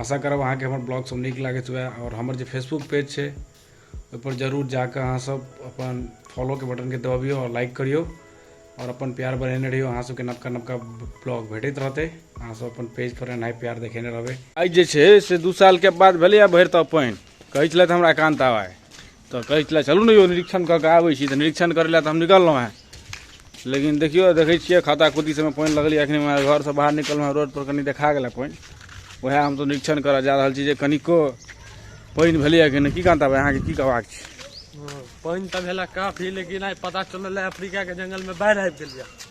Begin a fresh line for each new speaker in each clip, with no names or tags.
आशा करब अहाँके हमर ब्लॉग सब नीक लागैत हुए आओर हमर जे फेसबुक पेज छै ओहिपर जरूर जाकऽ अहाँ सब अपन फॉलोके बटनके दबियौ आओर लाइक करियौ आओर अपन प्यार बढ़ेने रहियौ अहाँ सबके नवका नवका ब्लॉग भेटैत रहतै अहाँ सब अपन पेज पर एनाइ प्यार देखेने रहबै आइ जे छै से दू सालके बाद भेलैए भरि तऽ पानि कहै छलथि हमरा एकान्त आवाय तऽ कहै छलै चलू ने यौ निरीक्षण कऽ कऽ आबै छी तऽ निरीक्षण करै लए तऽ हम निकललहुँ हेँ लेकिन देखियौ देखै छियै खाता खुद्दी सभमे पानि लगलै एखन हमरा घरसँ बाहर निकललहुँ हेँ रोडपर कनि देखा गेलै पानि उएह हम तऽ निरीक्षण करय जा रहल छी जे कनिको पानि भेलैए कि नहि की कहता भाय अहाँके की कहबाक छै पानि तऽ भेला काफी लेकिन आइ पता चलल अफ्रीकाके जङ्गलमे बाढ़ि आबि गेल यए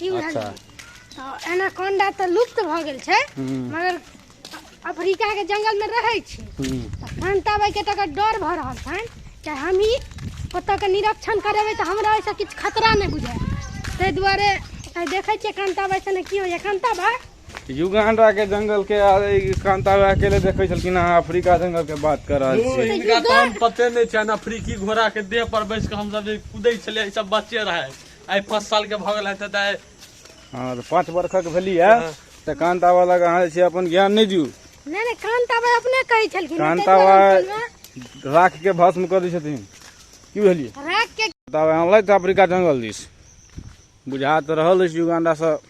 की बुझलियै अच्छा तऽ एनाकोंडा तऽ लुप्त भऽ गेल छै हूँ मगर अफ्रीका के जंगल में रहै छै हूँ तऽ कान ताबै के तकर डर भऽ रहल छनि कि हमही ओतऽ के निरीक्षण करेबै तऽ हमरा ओहिसँ किछु खतरा नहि बुझाय ताहि दुआरे आइ देखै छियै कान ताबै से ने की होइए कान ताबै युगांडा के जंगल के आ ई कांतारा अकेले देखे छलखिन अहाँ अफ्रीका जंगल के बात कर रहल ओ, छी हिनका तहन पते नहि छनि अफ्रीकी घोड़ा के देह पर बैस के हमसब जे कूदै छलियै ई सब बच्चे रहै आइ पाँच साल के भऽ गेल तऽ दाइ हँ तऽ पाँच वर्षक भेली है हाँ। तऽ कांत आबा लग अहाँ जे छै अपन ज्ञान नहि दियौ नहि नहि कांत आबा अपने कहै छलखिन कांत आबा राख के भस्म कऽ दै छथिन की बुझलियै राख के तब अहाँ लैत अफ्रीका जंगल दिस बुझा तऽ रहल अछि युगांडासँ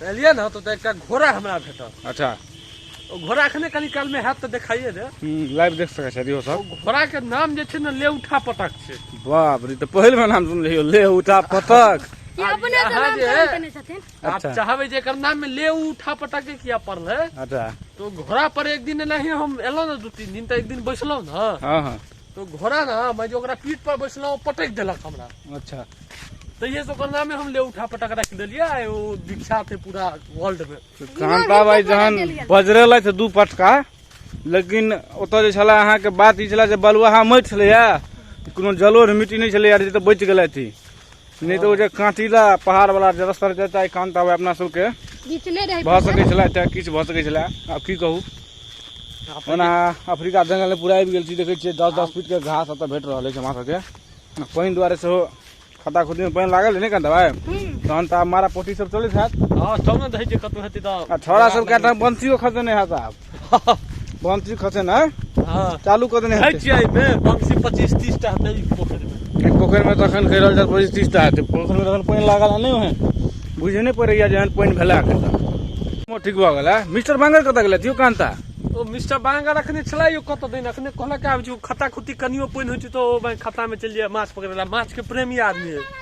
तऽ एलियै ने तऽ एकटा घोड़ा हमरा भेटल अच्छा ओ घोड़ा एखने कनि कालमे हैत तऽ देखाइए दे लाइव देख सकै छथि सब घोड़ाके नाम जे छै ने ले उठा पटक छै बाप रे तऽ पहिल बेर नाम सुनलियै ले उठा पटक आप चाहबे जे एकर नाम में ले उठा पटा के किया पड़ल है अच्छा तो घोड़ा पर एक दिन नहीं हम एलो ना दू तीन दिन तो एक दिन बैसलो ना हाँ हाँ तो घोड़ा ना मैं जो ओकरा पीठ पर बैसलहुँ पटक देलक हमरा अच्छा तहिए से ओकर नामे हम ले उठा पटक रख देलियै आ ओ विख्यात है पूरा वर्ल्ड में तो कांता भाई जहन बजरे लै दू पटका लेकिन ओतऽ जे छलै अहाँके बात ई छलै जे बलुआहा माटि छलैए कोनो जलोढ़ मिट्टी नहि छलैए जे तऽ बचि गेलथि नहि तऽ ओ जे काँटीला पहाड़वला जे रस्ता रहै तऽ कान्त आबै अपना सबके भऽ सकै छलै तऽ किछु भऽ सकै छलै आब की कहू ओना अफ्रीका जङ्गलमे पूरा आबि गेल छी देखै छियै दस दस फीटके घास एतऽ भेट रहल अछि हमरा सबके पानि दुआरे सेहो खता खुतीमे पानि लागल नहि कान्त भाइ तहन तऽ आब मारा पोटी सब चलैत हैत हँ तब ने देखै छियै कतहु हेतै तऽ छोरा सब कए ठाम बंसियो खसेने हैत आब बमसी खसे ना हां चालू कर देने है छियै बे बमसी 25 30 टा हेतै पोखरि में एक पोखरि में तखन कह रहल छै 25 30 टा हेतै पोखरि में तखन पानि लागल नै है बुझे नै पड़ैया जहन पानि भेला के मो ठीक भ गेल मिस्टर बांगर कत गेल थियो कांता ओ मिस्टर बांगर अखने छला यो कत दिन अखने कहला के आबि खाता खुती कनियो पानि होइ छै तो ओ खाता में चलि जाय माछ पकड़े ला माछ के प्रेमी आदमी है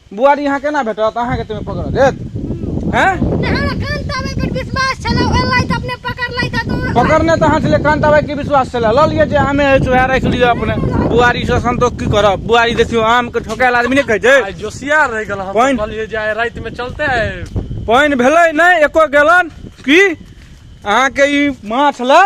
बुआरी यहाँ केना भेटत अहाँके तमे पकड़ देत हैं पकड़ने तो हाथ ले कान दबाई के विश्वास चला ल लिए जे आमे है चोहा रख लिए अपने बुआरी से संतोष की करब बुआरी देखियो आम के ठोकायल आदमी ने कह जे जोसिया रह गेल हम पानि- कहलिए जे आइ राति में चलते है पानि भेलै नहि एको गैलन की अहाँके ई माछ लए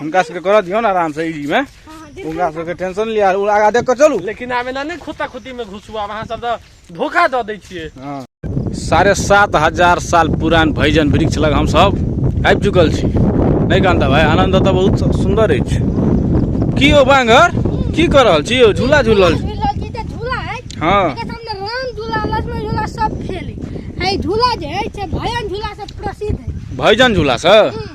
हुनका सबके करऽ दियौ ने आराम से ई में हुनका सबके टेंशन लिया उ आगा देख के चलू लेकिन आब एना नहि खोता खोती में घुसू आब अहाँ सब तऽ धोखा दऽ दै छियै हाँ। साढ़े सात हजार साल पुरान भैजन वृक्ष लग हम सब आबि चुकल छी नहि कांता भाई आनंद तऽ बहुत सु- सुंदर अछि की हो बांगर की कर रहल छी यौ झूला झूल रहल छी झूला जी तऽ झूला है हाँ एकर सामने राम झूला लक्ष्मण झूला सब खेले है झूला जे है से भयन झूला से प्रसिद्ध है भैजन झूला से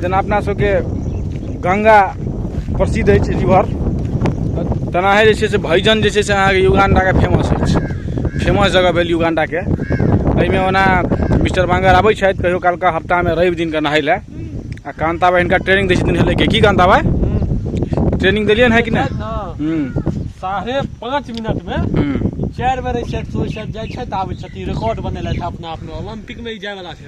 जेना अपना सबके गङ्गा प्रसिद्ध अछि रिवर तेनाहे जे छै से भैजन जे छै से अहाँके युगाण्डाके फेमस अछि फेमस जगह भेल युगाण्डाके एहिमे ओना मिस्टर बाङ्गर आबै छथि कहिओ कालके हफ्तामे रवि दिनके नहाइ लए आ कान्ता भाइ हिनका ट्रेनिंग दै छथिन हेलैके की कान्ता भाइ ट्रेनिंग देलियनि है कि नहि साढ़े पाँच मिनटमे चारि बेर छथि जाइ छथि आबै छथिन रिकॉर्ड बनेलथि अपना आपमे ओलम्पिकमे ई जायवला छै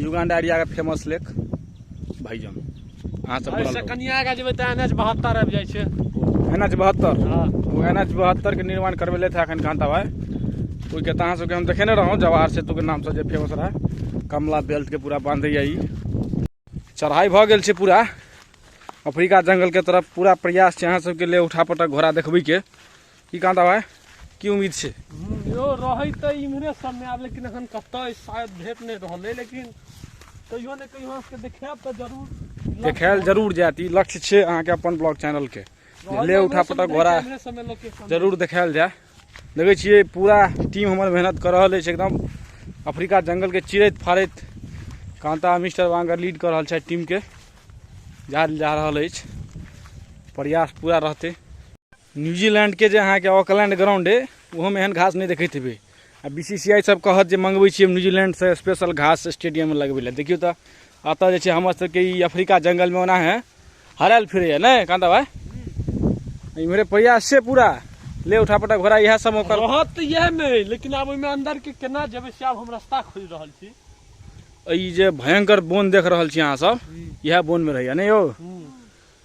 युगांडा एरिया के फेमस लेक भाईजान अहाँ सब एहि से कनिया आगा जेबै तऽ एन एच बहत्तर आबि जाइ छै एन एच बहत्तर हँ ओ एन एच बहत्तर के निर्माण करबेले थे अखन कांता भाई ओहिके तऽ अहाँ सबके हम देखेने रहौं जवाहर सेतु के नाम से जे फेमस रहे कमला बेल्ट के पूरा बांधैया ई चढ़ाई भऽ गेल छै पूरा अफ्रीका जंगल के तरफ पूरा प्रयास छै अहाँ सबके लिए उठा पटक घोड़ा देखबै के की कहाँ था भाई की उम्मीद से यो रही तो इमरे सब में आब लेकिन अखन कत शायद भेट नहीं रहल है लेकिन कहियो ने कहियो के देखाब तो जरूर देखायल जरूर जायत ई लक्ष्य छै अहाँके अपन ब्लॉग चैनल के ले उठा पटा घोड़ा जरूर देखायल जाय देखै छियै पूरा टीम हमर मेहनत कर रहल अछि एकदम अफ्रीका जंगल के चिरैत फाड़ैत कांता मिस्टर वांगर लीड कर रहल छै टीम के जा जा रहल अछि प्रयास पूरा रहतै न्यूजीलैंडके जे अहाँके ऑकलैंड ग्राउंड अइ ओहोमे एहन घास नहि देखैत हेबै आ बी सी सी आई सब कहत जे मंगबै छियै न्यूजीलैंडसँ स्पेशल घास स्टेडियममे लगबै लए देखियौ तऽ एतऽ जे छै हमर सबके ई अफ्रीका जंगलमे ओना है हरायल फिरैया ने कांता भाई इम्हरे प्रयास छै पूरा ले उठा पटा घोड़ा इएह सब ओकर रहत तऽ इएह मे लेकिन आब ओहिमे अंदर के केना जेबै से आब हम रास्ता खोज रहल छी ई जे भयंकर बोन देख रहल छी अहाँ सब इएह बोनमे रहैया ने यौ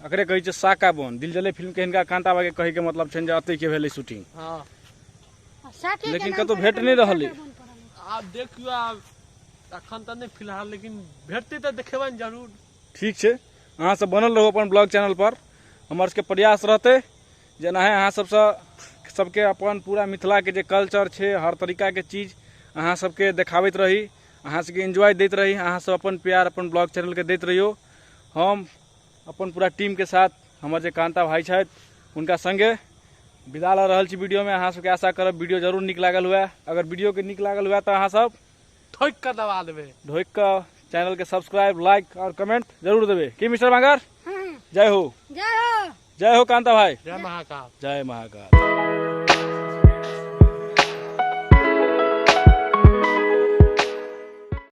एकरे कहै छै साका बन दिल जले फिल्म के हिनका कांता बा के कहे के मतलब छन जे अतै के भेलै शूटिंग हाँ आ साके के लेकिन नाम कतौ पर भेट एकर नहि नाम रहलै। साके बन पड़ल है। आब देखियो आब अखन तऽ नहि फिलहाल लेकिन भेटतै तऽ देखेबनि जरूर ठीक छै अहाँ सब बनल रहू अपन ब्लॉग चैनल पर हमर सबके प्रयास रहतै जे एनाहे अहाँ सबसँ सबके अपन पूरा मिथिलाके जे कल्चर छै हर तरीकाके चीज अहाँ सबके देखाबैत रही अहाँ सबके एंजॉय दैत रही अहाँ सब अपन प्यार अपन ब्लॉग चैनलके दैत रहियौ हम अपन पूरा टीमके साथ हमर जे कान्ता भाई छथि हुनका सङ्गे विदा लऽ रहल छी वीडियोमे अहाँ सबके आशा करब वीडियो जरूर नीक लागल हुए अगर वीडियोके नीक लागल हुए तऽ अहाँ सब ठोकि कऽ दबा देबै ढोकि कऽ चैनलके सब्सक्राइब लाइक आओर कमेंट जरूर देबै की मिस्टर मांगर जय हो जय हो जय हो कान्ता भाई जय महाकाल जय महाकाल